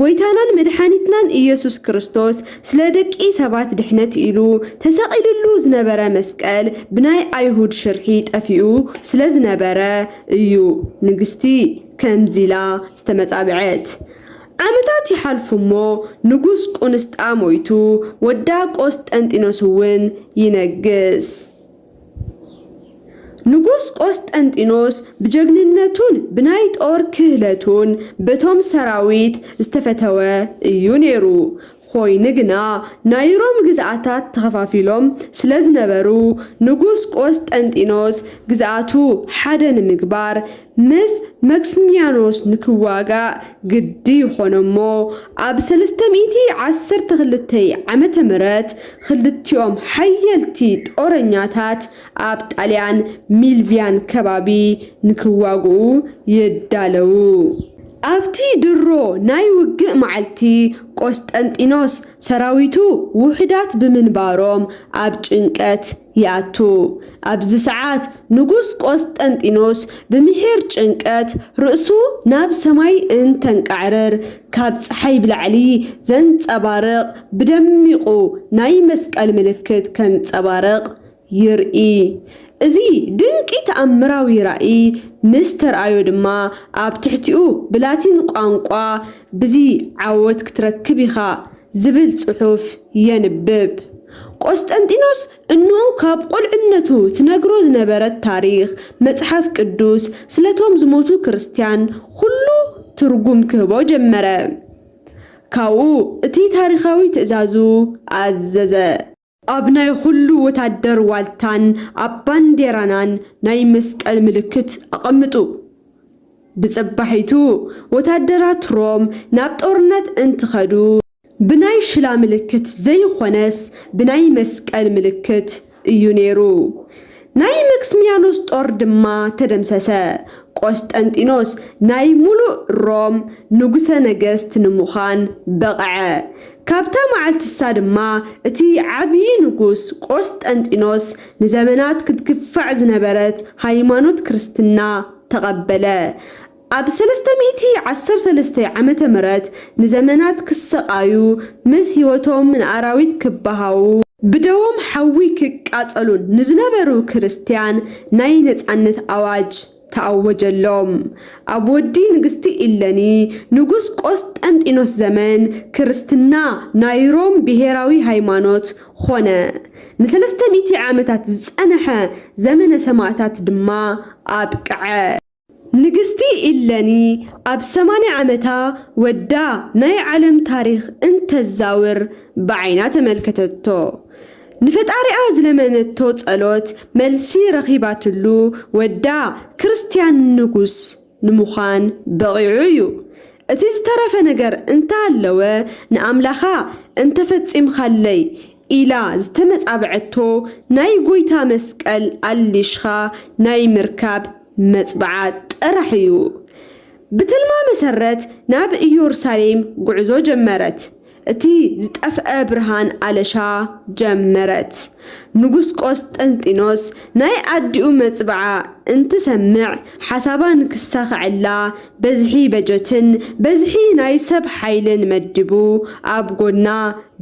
ጎይታናን መድሓኒትናን ኢየሱስ ክርስቶስ ስለ ደቂ ሰባት ድሕነት ኢሉ ተሰቂልሉ ዝነበረ መስቀል ብናይ ኣይሁድ ሽርሒ ጠፊኡ ስለ ዝነበረ እዩ ንግስቲ ከምዚ ኢላ ዝተመጻብዐት ዓመታት ይሓልፉ እሞ ንጉስ ቁንስጣ ሞይቱ ወዳ ቆስጠንጢኖስ እውን ይነግስ። ንጉስ ቆስጠንጢኖስ ብጀግንነቱን ብናይ ጦር ክህለቱን በቶም ሰራዊት ዝተፈተወ እዩ ነይሩ። ኾይኑ ግና ናይ ሮም ግዝኣታት ተኸፋፊሎም ስለዝነበሩ ንጉስ ቆስጠንጢኖስ ግዝኣቱ ሓደ ንምግባር ምስ መክስሚያኖስ ንክዋጋእ ግዲ ኾነ'ሞ ኣብ ሰለስተ ሚእቲ ዓሰርተ ክልተ ዓመተ ምህረት ክልቲኦም ሓየልቲ ጦረኛታት ኣብ ጣልያን ሚልቪያን ከባቢ ንክዋግኡ ይዳለዉ። ኣብቲ ድሮ ናይ ውግእ መዓልቲ ቆስጠንጢኖስ ሰራዊቱ ውሑዳት ብምንባሮም ኣብ ጭንቀት፣ ይኣቱ። ኣብዚ ሰዓት ንጉስ ቆስጠንጢኖስ ብምሒር ጭንቀት ርእሱ ናብ ሰማይ እንተንቃዕርር ካብ ጸሓይ ብላዕሊ ዘንጸባርቕ ብደሚቑ ናይ መስቀል ምልክት ከንጸባርቕ ይርኢ። እዚ ድንቂ ተኣምራዊ ራኢ ምስ ተርኣዮ ድማ ኣብ ትሕቲኡ ብላቲን ቋንቋ ብዚ ዓወት ክትረክብ ኢኻ! ዝብል ጽሑፍ የንብብ። ቈስጠንጢኖስ እንሆ ካብ ቈልዕነቱ ትነግሮ ዝነበረት ታሪኽ መጽሓፍ ቅዱስ ስለቶም ዝሞቱ ክርስትያን ዅሉ ትርጕም ክህቦ ጀመረ። ካብኡ እቲ ታሪኻዊ ትእዛዙ ኣዘዘ። ኣብ ናይ ኹሉ ወታደር ዋልታን ኣብ ባንዴራናን ናይ መስቀል ምልክት ኣቐምጡ። ብጽባሒቱ ወታደራት ሮም ናብ ጦርነት እንትኸዱ፣ ብናይ ሽላ ምልክት ዘይኾነስ ብናይ መስቀል ምልክት እዩ ነይሩ። ናይ መክስሚያኖስ ጦር ድማ ተደምሰሰ። ቆስጠንጢኖስ ናይ ምሉእ ሮም ንጉሠ ነገሥት ንምዃን በቕዐ። ካብታ መዓልቲሳ ድማ እቲ ዓቢይ ንጉሥ ቆስጠንጢኖስ ንዘመናት ክትግፋዕ ዝነበረት ሃይማኖት ክርስትና ተቐበለ። ኣብ ሰለስተ ሚእቲ ዓሰርተ ሰለስተ ዓመተ ምህረት ንዘመናት ክሰቓዩ፣ ምስ ህይወቶም ንኣራዊት ክበሃዉ፣ ብደዎም ሓዊ ክቃጸሉን ንዝነበሩ ክርስትያን ናይ ነጻነት ኣዋጅ ተኣወጀሎም። ኣብ ወዲ ንግስቲ ኢለኒ ንጉስ ቆስጠንጢኖስ ዘመን ክርስትና ናይ ሮም ብሄራዊ ሃይማኖት ኾነ። ንሰለስተ ሚእቲ ዓመታት ዝጸንሐ ዘመነ ሰማእታት ድማ ኣብቅዐ። ንግስቲ ኢለኒ ኣብ ሰማንያ ዓመታ ወዳ ናይ ዓለም ታሪኽ እንተዛውር ብዓይና ተመልከተቶ። ንፈጣሪኣ ዝለመነቶ ጸሎት መልሲ ረኺባትሉ ወዳ ክርስትያን ንጉስ ንምዃን በቒዑ እዩ። እቲ ዝተረፈ ነገር እንተሃለወ ንኣምላኻ እንተፈጺምካለይ ኢላ ዝተመጻብዐቶ ናይ ጎይታ መስቀል ኣሊሽካ ናይ ምርካብ መጽብዓ ጥራሕ እዩ። ብትልማ መሰረት ናብ ኢዮርሳሌም ጉዕዞ ጀመረት። እቲ ዝጠፍኣ ብርሃን ኣለሻ ጀመረት። ንጉስ ቆስጠንጢኖስ ናይ ኣዲኡ መጽብዓ እንትሰምዕ ሓሳባ ንክሳኸዐላ በዝሒ በጀትን በዝሒ ናይ ሰብ ሓይልን መዲቡ ኣብ ጎድና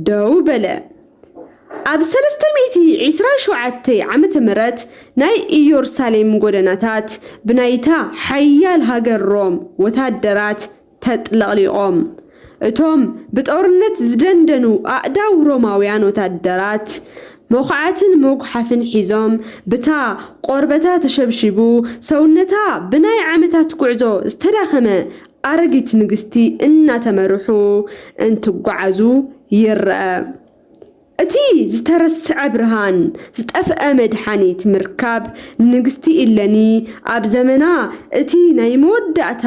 ደው በለ። ኣብ ሰለስተ ሚእቲ ዒስራን ሸውዓተይ ዓመተ ምህረት ናይ ኢዮርሳሌም ጎደናታት ብናይታ ሓያል ሃገር ሮም ወታደራት ተጥለቕሊቖም። እቶም ብጦርነት ዝደንደኑ ኣእዳው ሮማውያን ወተሃደራት፣ መዅዓትን መጕሓፍን ሒዞም፣ ብታ ቈርበታ ተሸብሺቡ፣ ሰውነታ ብናይ ዓመታት ጕዕዞ ዝተዳኸመ ኣረጊት ንግስቲ እናተመርሑ እንትጓዓዙ ይርኣ። እቲ ዝተረስዐ ብርሃን፣ ዝጠፍአ መድሓኒት ምርካብ ንንግስቲ ኢለኒ ኣብ ዘመና እቲ ናይ መወዳእታ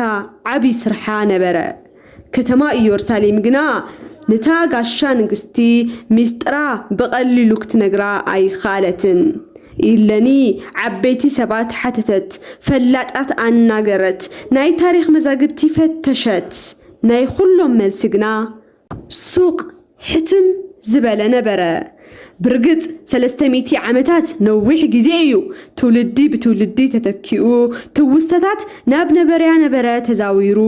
ዓቢ ስርሓ ነበረ። ከተማ እዮርሳሌም ግና ነታ ጋሻ ንግስቲ ሚስጥራ ብቐሊሉ ክትነግራ ኣይክኣለትን። ኢለኒ ዓበይቲ ሰባት ሓተተት፣ ፈላጣት ኣናገረት፣ ናይ ታሪኽ መዛግብቲ ፈተሸት፣ ናይ ኹሎም መልሲ ግና ሱቕ ሕትም ዝበለ ነበረ። ብርግጽ ሰለስተ ሚእቲ ዓመታት ነዊሕ ግዜ እዩ፣ ትውልዲ ብትውልዲ ተተኪኡ፣ ትውስተታት ናብ ነበረያ ነበረ ተዛዊሩ፣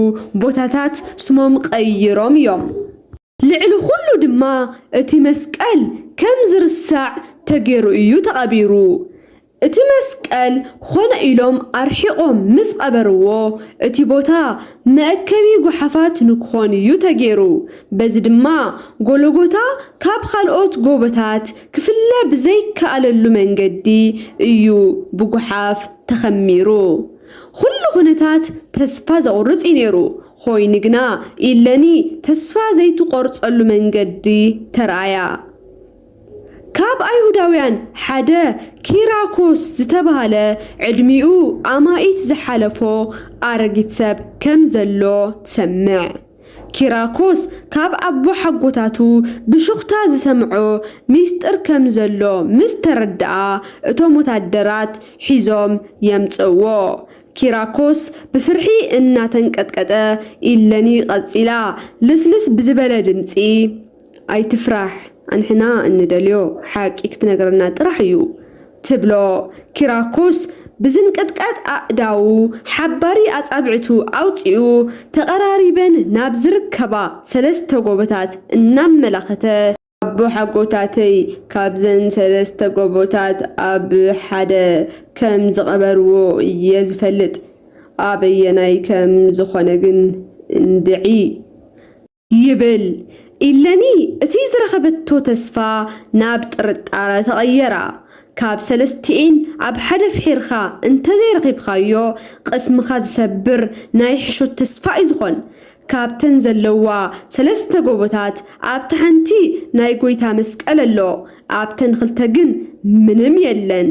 ቦታታት ስሞም ቀይሮም እዮም። ልዕሊ ኹሉ ድማ እቲ መስቀል ከም ዝርሳዕ ተገይሩ እዩ ተቐቢሩ። እቲ መስቀል ኾነ ኢሎም ኣርሒቖም ምስ ቐበርዎ እቲ ቦታ መእከቢ ጓሓፋት ንክኾን እዩ ተገይሩ። በዚ ድማ ጎሎጎታ ካብ ኻልኦት ጎቦታት ክፍለ ብዘይከኣለሉ መንገዲ እዩ ብጉሓፍ ተኸሚሩ። ኹሉ ኹነታት ተስፋ ዘቑርፅ እዩ ነይሩ፣ ኾይኑ ግና ኢለኒ ተስፋ ዘይትቖርፀሉ መንገዲ ተርኣያ። ካብ ኣይሁዳውያን ሓደ ኪራኮስ ዝተባህለ ዕድሚኡ ኣማኢት ዝሓለፎ ኣረጊት ሰብ ከም ዘሎ ትሰምዕ። ኪራኮስ ካብ ኣቦሓጎታቱ ብሹኽታ ዝሰምዖ ሚስጥር ከም ዘሎ ምስ ተረድኣ እቶም ወታደራት ሒዞም የምጽእዎ። ኪራኮስ ብፍርሒ እናተንቀጥቀጠ ኢለኒ ቀጺላ ልስልስ ብዝበለ ድምጺ። ኣይትፍራሕ ኣንሕና እንደልዮ ሓቂ ክትነግረና ጥራሕ እዩ ትብሎ ኪራኮስ ብዝንቅጥቀጥ ኣእዳዉ ሓባሪ ኣጻብዕቱ ኣውጺኡ ተቐራሪበን ናብ ዝርከባ ሰለስተ ጎቦታት እናመላኸተ። ኣቦሓጎታተይ ካብዘን ሰለስተ ጎቦታት ኣብ ሓደ ከም ዝቐበርዎ እየ ዝፈልጥ ኣበየናይ ከም ዝኾነ ግን እንድዒ። ይብል ኢለኒ እቲ ዝረኸበቶ ተስፋ ናብ ጥርጣረ ተቐየራ ካብ ሰለስቲኤን ኣብ ሓደ ፍሒርካ እንተዘይረኺብካዮ ቕስምኻ ዝሰብር ናይ ሕሾት ተስፋ እዩ ዝኾን ካብተን ዘለዋ ሰለስተ ጎቦታት ኣብታ ሓንቲ ናይ ጎይታ መስቀል ኣሎ ኣብተን ኽልተ ግን ምንም የለን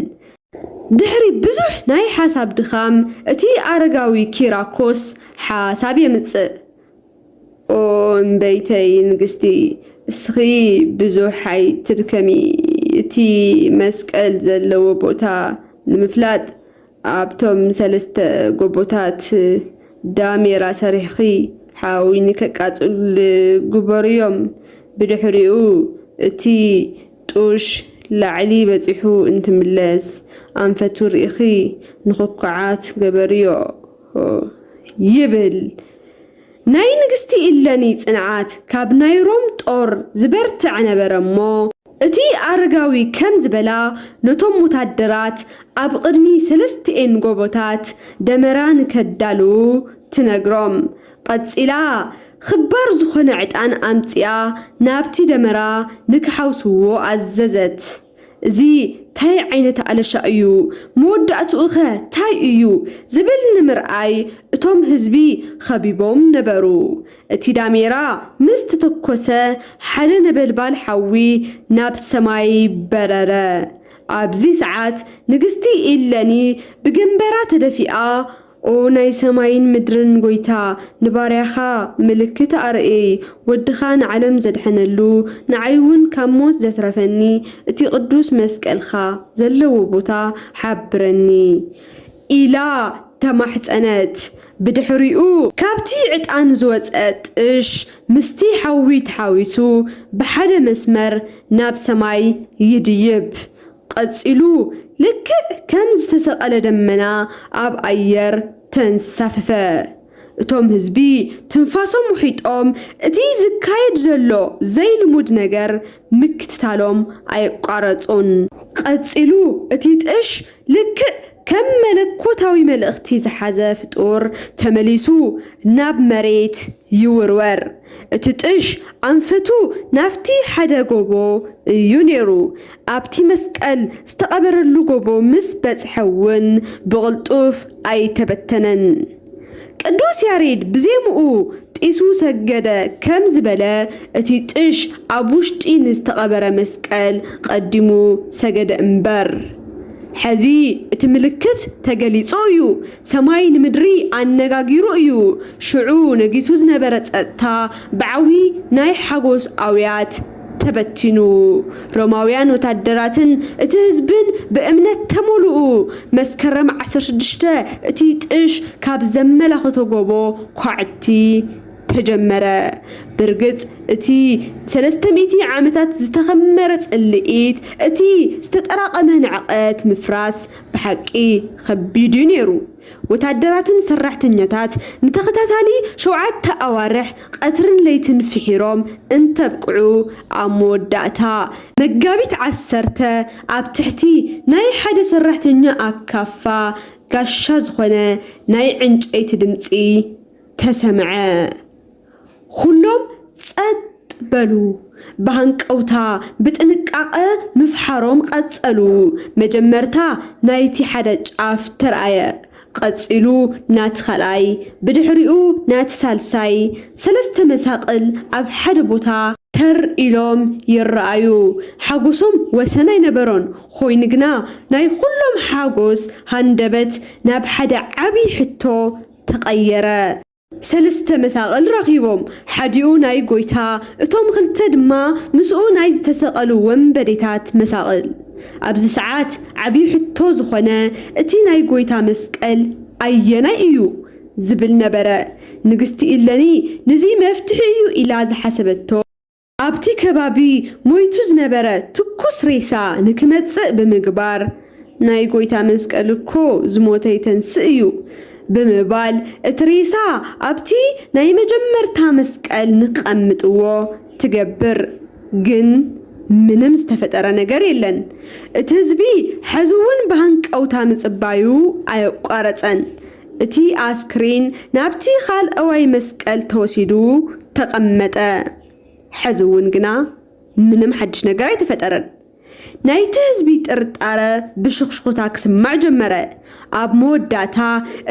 ድሕሪ ብዙሕ ናይ ሓሳብ ድኻም እቲ ኣረጋዊ ኪራኮስ ሓሳብ የምጽእ ኦ እምበይተይ ንግስቲ እስኺ ብዙሕ ኣይትድከሚ እቲ መስቀል ዘለዎ ቦታ ንምፍላጥ ኣብቶም ሰለስተ ጎቦታት ዳሜራ ሰሪሕኺ ሓዊ ንከቃፅል ግበርዮም ብድሕሪኡ እቲ ጡሽ ላዕሊ በፂሑ እንትምለስ ኣንፈቱ ሪኢኺ ንኹኩዓት ገበርዮ ይብል ናይ ንግስቲ እለኒ ጽንዓት ካብ ናይ ሮም ጦር ዝበርትዕ ነበረ እሞ እቲ ኣረጋዊ ከም ዝበላ ነቶም ወታደራት ኣብ ቕድሚ ሰለስቲኤን ጎቦታት ደመራ ንከዳልዉ ትነግሮም ቐጺላ ኽባር ዝኾነ ዕጣን ኣምጺኣ ናብቲ ደመራ ንክሓውስዎ ኣዘዘት እዚ ታይ ዓይነት ኣለሻ እዩ መወዳእትኡ ከ ታይ እዩ ዝብል ንምርኣይ እቶም ህዝቢ ኸቢቦም ነበሩ እቲ ዳሜራ ምስ ተተኮሰ ሓደ ነበልባል ሓዊ ናብ ሰማይ በረረ ኣብዚ ሰዓት ንግስቲ ኢለኒ ብገምበራ ተደፊኣ ኦ ናይ ሰማይን ምድርን ጐይታ ንባርያኻ ምልክት ኣርእይ ወድኻ ንዓለም ዘድሐነሉ ንዓይ ውን ካብ ሞት ዘትረፈኒ እቲ ቅዱስ መስቀልካ ዘለዎ ቦታ ሐብረኒ ኢላ ተማሕጸነት ብድሕሪኡ ካብቲ ዕጣን ዝወጸ ጥሽ ምስቲ ሐዊ ተሓዊሱ ብሐደ መስመር ናብ ሰማይ ይድይብ ቐጺሉ ልክዕ ከም ዝተሰቐለ ደመና ኣብ ኣየር ተንሳፈፈ። እቶም ህዝቢ ትንፋሶም ውሒጦም እቲ ዝካየድ ዘሎ ዘይልሙድ ነገር ምክትታሎም ኣየቋረጹን። ቐጺሉ እቲ ጥሽ ልክዕ ከም መለኮታዊ መልእኽቲ ዝሓዘ ፍጡር ተመሊሱ ናብ መሬት ይውርወር። እቲ ጥሽ ኣንፈቱ ናብቲ ሓደ ጎቦ እዩ ነይሩ። ኣብቲ መስቀል ዝተቐበረሉ ጎቦ ምስ በጽሐ እውን ብቕልጡፍ ኣይተበተነን። ቅዱስ ያሬድ ብዜምኡ ጢሱ ሰገደ ከም ዝበለ፣ እቲ ጥሽ ኣብ ውሽጢ ንዝተቐበረ መስቀል ቐዲሙ ሰገደ እምበር። ሕዚ እቲ ምልክት ተገሊጹ እዩ፣ ሰማይ ንምድሪ ኣነጋጊሩ እዩ፣ ሽዑ ነጊሱ ዝነበረ ጸጥታ ብዓውዪ ናይ ሓጎስ ኣውያት፣ ተበቲኑ ሮማውያን ወታደራትን እቲ ህዝብን ብእምነት ተሞሉኡ መስከረም ዓሰርተ ሽዱሽተ እቲ ጥሽ ካብ ዘመላኽቶ ጎቦ ኳዕቲ ተጀመረ ብርግጽ እቲ ንሰለስተ ሚእቲ ዓመታት ዝተኸመረ ጽልኢት እቲ ዝተጠራቐመ ንዕቀት ምፍራስ ብሓቂ ከቢድዩ ነይሩ ወታደራትን ሰራሕተኛታት ንተኸታታሊ ሸውዓተ ኣዋርሕ ቐትርን ለይትን ፍሒሮም እንተብቅዑ ኣብ መወዳእታ መጋቢት ዓሰርተ ኣብ ትሕቲ ናይ ሓደ ሰራሕተኛ ኣካፋ ጋሻ ዝኾነ ናይ ዕንጨይቲ ድምጺ ተሰምዐ። ኹሎም ጸጥ በሉ። ብሃንቀውታ ብጥንቃቐ ምፍሓሮም ቐጸሉ። መጀመርታ ናይቲ ሓደ ጫፍ ተርኣየ፣ ቐጺሉ ናቲ ኻልኣይ፣ ብድሕሪኡ ናቲ ሳልሳይ። ሰለስተ መሳቕል ኣብ ሓደ ቦታ። ተር ኢሎም ይርኣዩ። ሓጎሶም ወሰን ኣይነበሮን፣ ኾይኑ ግና ናይ ኹሎም ሓጎስ ሃንደበት ናብ ሓደ ዓብዪ ሕቶ ተቐየረ። ሰለስተ መሳቕል ረኺቦም፣ ሓዲኡ ናይ ጐይታ፣ እቶም ኽልተ ድማ ምስኡ ናይ ዝተሰቐሉ ወንበዴታት መሳቕል። ኣብዚ ሰዓት ዓብዪ ሕቶ ዝዀነ፣ እቲ ናይ ጐይታ መስቀል ኣየናይ እዩ? ዝብል ነበረ። ንግስቲ ኢለኒ ንዙይ መፍትሒ እዩ ኢላ ዝሓሰበቶ። ኣብቲ ከባቢ ሞይቱ ዝነበረ ትኩስ ሬሳ ንክመጽእ ብምግባር፣ ናይ ጐይታ መስቀል እኮ ዝሞተ ይተንስእ እዩ ብምባል እቲ ሬሳ ኣብቲ ናይ መጀመርታ መስቀል ንክቐምጥዎ ትገብር። ግን ምንም ዝተፈጠረ ነገር የለን። እቲ ህዝቢ ሐዚ እውን ብሃንቀውታ ምጽባዩ ኣየቋረጸን። እቲ ኣስክሬን ናብቲ ካልኣዋይ መስቀል ተወሲዱ ተቐመጠ። ሕዚ እውን ግና ምንም ሓድሽ ነገር ኣይተፈጠረን። ናይቲ ህዝቢ ጥርጣረ ብሽኹሽኹታ ክስማዕ ጀመረ። ኣብ መወዳእታ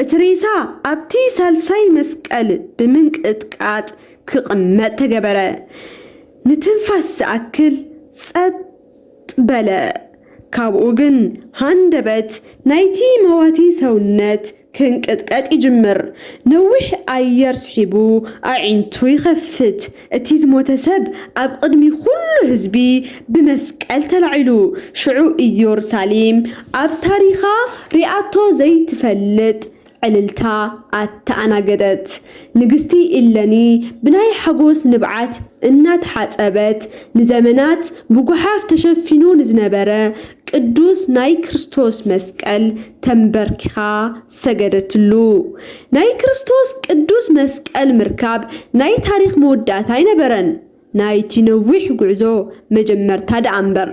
እቲ ሬሳ ኣብቲ ሳልሳይ መስቀል ብምንቅጥቃጥ ክቕመጥ ተገበረ። ንትንፋስ ዝኣክል ጸጥ በለ። ካብኡ ግን ሃንደበት ናይቲ መዋቲ ሰውነት ክንቅጥቀጥ ይጅምር። ነዊሕ ኣየር ስሒቡ ኣዒንቱ ይኸፍት። እቲ ዝሞተ ሰብ ኣብ ቕድሚ ዅሉ ህዝቢ ብመስቀል ተላዒሉ። ሽዑ ኢዮሩሳሌም ኣብ ታሪኻ ሪኣቶ ዘይትፈልጥ ዕልልታ ኣተኣናገደት። ንግስቲ ኢለኒ ብናይ ሓጎስ ንብዓት እናተሓጸበት፣ ንዘመናት ብጐሓፍ ተሸፊኑ ንዝነበረ ቅዱስ ናይ ክርስቶስ መስቀል ተምበርኪኻ ሰገደትሉ። ናይ ክርስቶስ ቅዱስ መስቀል ምርካብ ናይ ታሪኽ መወዳእታ ኣይነበረን። ናይቲ ነዊሕ ጉዕዞ መጀመርታ ደኣ'ምበር፣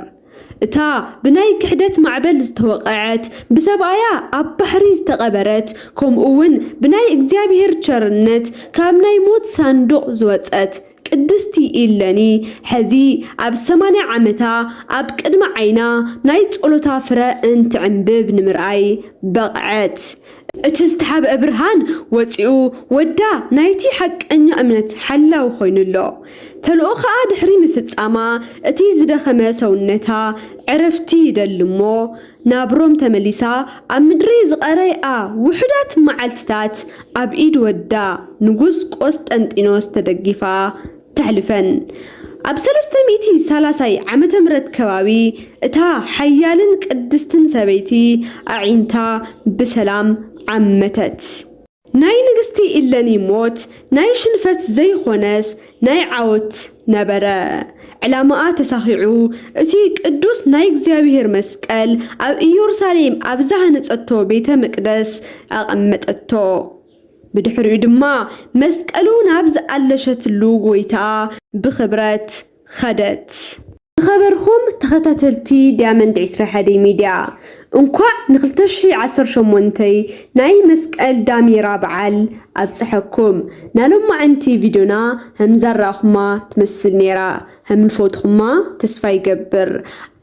እታ ብናይ ክሕደት ማዕበል ዝተወቐዐት፣ ብሰብኣያ ኣብ ባሕሪ ዝተቐበረት፣ ከምኡ'ውን ብናይ እግዚኣብሔር ቸርነት ካብ ናይ ሞት ሳንዱቕ ዝወጸት ቅድስቲ ኢለኒ ሕዚ ኣብ ሰማንያ ዓመታ ኣብ ቅድሚ ዓይና ናይ ጸሎታ ፍረ እንትዕምብብ ንምርኣይ በቕዐት። እቲ ዝተሓብአ ብርሃን ወጺኡ ወዳ ናይቲ ሓቀኛ እምነት ሓላዊ ኮይኑ ኣሎ። ተልእኾኣ ድሕሪ ምፍጻማ እቲ ዝደኸመ ሰውነታ ዕረፍቲ ይደሊ እሞ ናብ ሮም ተመሊሳ ኣብ ምድሪ ዝቐረይኣ ውሑዳት መዓልትታት ኣብ ኢድ ወዳ ንጉስ ቆስጠንጢኖስ ተደጊፋ ተሕልፈን። ኣብ ሰለስተ ሚእቲ ሳላሳይ ዓመተ ምረት ከባቢ እታ ሓያልን ቅድስትን ሰበይቲ ኣዒንታ ብሰላም ዓመተት። ናይ ንግስቲ ኢለኒ ሞት ናይ ሽንፈት ዘይኾነስ ናይ ዓወት ነበረ። ዕላማኣ ተሳኺዑ፣ እቲ ቅዱስ ናይ እግዚኣብሔር መስቀል ኣብ ኢዮሩሳሌም ኣብ ዝሃነጸቶ ቤተ መቅደስ ኣቐመጠቶ። ብድሕሪኡ ድማ መስቀሉ ናብ ዝኣለሸትሉ ጎይታ ብኽብረት ኸደት። ዝኸበርኩም ተኸታተልቲ ዳያመንድ ዕስራ ሓደ ሚድያ እንኳዕ ን ክልተ ሽሕ ዓሰርተ ሸሞንተ ናይ መስቀል ዳሜራ በዓል ኣብፀሐኩም። ናሎማዕንቲ ቪድዮና ሀምዛራኣኹማ ትመስል ነይራ። ሀምልፎትኹማ ተስፋ ይገብር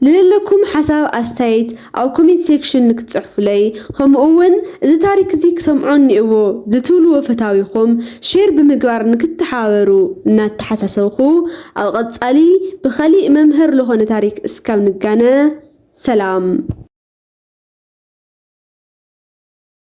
ልለለኩም ሓሳብ ኣስታይት ኣብ ኮሜንት ሴክሽን ንክትጽሕፉለይ ኸምኡ ውን እዚ ታሪክ እዚ ክሰምዖ እኒኤዎ ልትብልዎ ፈታዊኹም ሼር ብምግባር ንክትተሓባበሩ እናተሓሳሰብኹ ኣብ ቐጻሊ ብኸሊእ መምህር ልኾነ ታሪክ እስካብ ንጋነ ሰላም